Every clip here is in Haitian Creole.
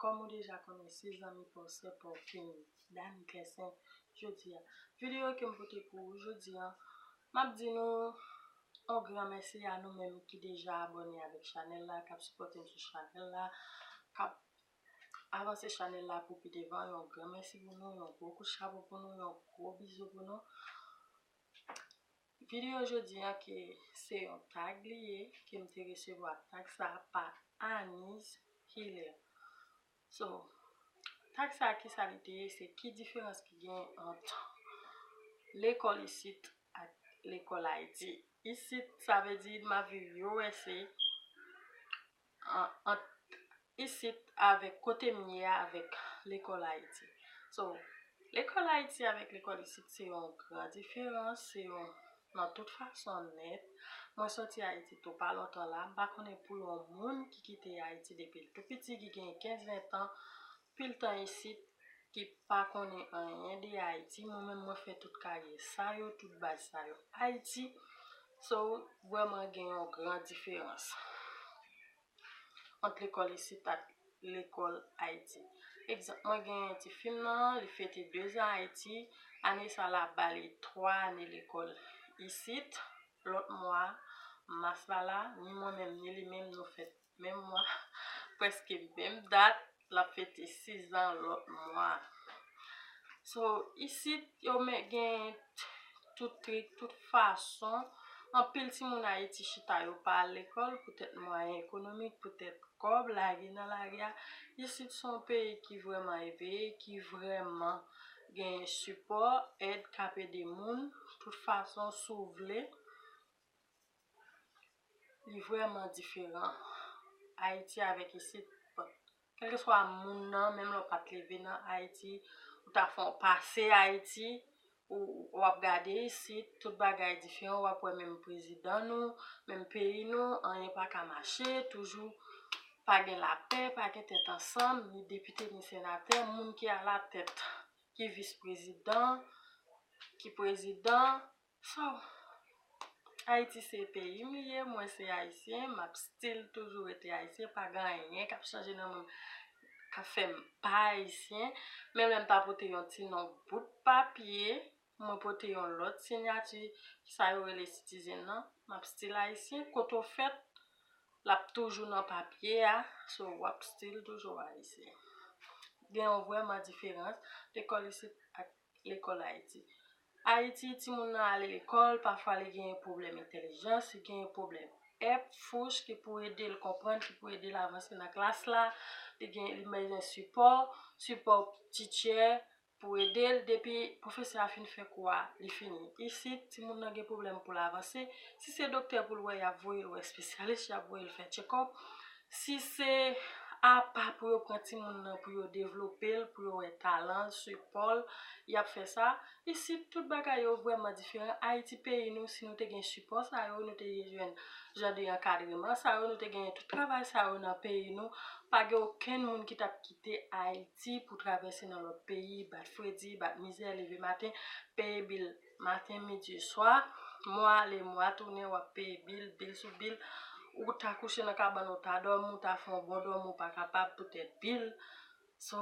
Kòm ou deja konnen si zanmi paw sè paw fini Dany Kersen jodia video kem pote pou ou jodi an map di nou on gran mèsi a nou menm ki deja abòne avèk chanèl la kap sipòtem sou chanèl la kap avanse chanèl la pou pi devan yon gran mèsi pou nou yon gwo kout chapo pou nou yon gwo bizou pou nou. Video jodi a ke se yon tag li ye ke m te resevwa tag sa pa Anise Hilaire so tag sa kisa li te ye se ki diferans ki gen ant lekòl isit ak lekòl Ayiti isit sa vle di map viv usa ant isit avèk kote m ye a avèk lekòl Ayiti. So, lekòl Ayiti avèk lekòl isit se yon gran diferans, se yon nan tout fason nèt. Mwen soti Ayiti tou pa lontan la, m pa konnen pou yon moun ki kite Ayiti depi l tou piti, ki gen 15, 20 tan, Pil tan isit ki pa konnen anyen de ayiti mwen menm mwen fè tout karyè sa yo tout baz sa yo ayiti so vrèman gen yon gran diferans ant lekòl isit ak lekòl ayiti egzanp mwen genyen ti fim nan li fete 2 zan ayiti ane sa la bali 3 ane lekòl isit lòt mwa mas la la ni mwen menm ni li menm nou fè Menm mwa, preske menm dat, lap fete 6 zan lòt mwa. So, isit yo men gen tout trik, tout fason, anpil timoun Ayiti chita yo pa al lekòl poutèt mwayen ekonomik, poutèt kòb, lage nan lage a. Isit se yon peyi ki vrèman eveye, ki vrèman gen sipò, èd kap ede moun, tout fason si w vle. Li vrèman diferan Ayiti avèk isit. Bon, kèlkeswa moun nan, menm lè w pa t leve nan Ayiti, ou ta fè yon pase Ayiti, ou w ap gade isit, tout bagay diferan, w ap wè menm prezidan nou, menm peyi nou, anyen pa ka mache, toujou pa gen lapè, pa gen tèt ansanm, ni depite ni senatè, moun ki alatèt, ki vis prezidan, ki prezidan. Sow Haïti se peyim li ye mwen se ayisyen map still toujou rete ayisyen pa gen anyen kap chanje nan mwen kap fèm pa ayisyen menm lèm ta pote yon ti non bout papye mwen pote yon lòt sinyati sa yo rele citizen nan map still ayisyen kote ou fèt lap toujou nan papye a sow wap still toujou ayisyen gen yon vrèman diferans lekòl isit ak Lekòl Ayiti Ayiti, timoun nan ale lekòl, pafwa li genyen pwoblèm entèlijans, li genyen pwoblèm ep, fouch, ki pou ede l konprann, ki pou ede l avanse nan klas la, li gen, li bezwen sipò, sipò tityè pou ede l depi pwofesè a fin fè kou a, li fini. Isit, timoun nan gen pwoblèm pou l avanse, si se doktè pou l wè y ap voye l wè espesyalis, y ap voye l fè tchekòp, Si se apa pou yo pran timoun nan pou yo devlope l, pou yo wè talan l, sipò l, y ap fè sa. Isit, tout bagay yo vrèman diferan. Ayiti peyi nou, si nou te gen sipò sa yo, nou te jwenn jan de ankadreman sa yo, nou te genyen tout travay sa yo nan peyi nou, pa gen okenn moun ki t ap kite Ayiti pou travèse nan lòt peyi, bat fredi, bat mizè, leve maten, peye bil. Maten midi swa, mwa ale mwa tounen wap peye bil, bil sou bil, ou ta kouche nan kabann ou ta dòmi ou ta fè yon bon dòmi ou pa kapab poutèt bil, so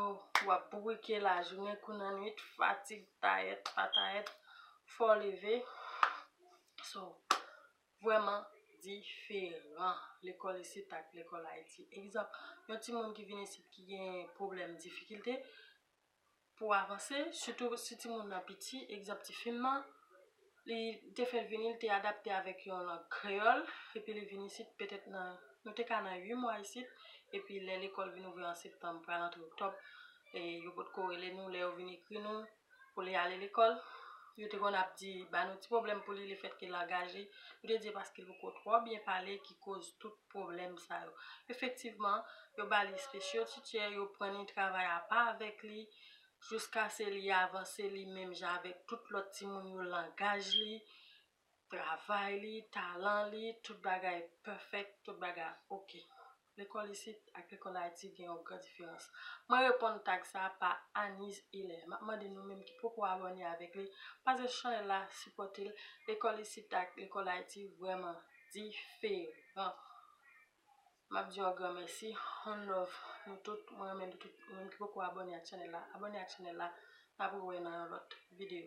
wap bourike lajounen kou nan nwit, fatig tayèt pa tayèt fòw leve, so vrèman diferan lekòl isit ak lekòl ayiti, egzanp yon timoun ki vin isit ki gen pwoblèm difikilte, pou w avanse, sitou si timoun nan piti. Egzanp ti fi m nan, li te fè l vini, li te adapte avèk yon lang kreyòl, epi li vin isit petèt nan, nou te ka nan ui mwa isit, epi lè lekòl vin ouvri an septanm pral antre oktòb, yo pot ko rele nou, lè yo vin ekri nou pou li ale lekòl, yo te konn ap di, ba nou ti pwoblèm pou li, lefètke langaj li, yo te di e paske li poko twò byen pale ki koz tout. pwoblèm sa yo. Efektivman, yo ba li special teacher, yo pran li travay apa avèk li, jouskase li avanse li menm jan avèk tout lòt timoun yo langaj li, travay li, talan li, tout bagay perfect, tout bagay ok. Lekòl isit ak lekòl Ayiti gen yon gran diferans. Mwen reponn tag sa pa Anise Hilaire. Map mande nou menm ki poko abòne avèk li, pase chanèl la, sipòte l, lekòl isit ak lekòl Ayiti vrèman diferan map diw yon gran mèsi on love nou tout mwen renmen nou tout ou menm ki poko abòne ak chanèl la abòne ak chanèl la map re wè nan yon lòt video.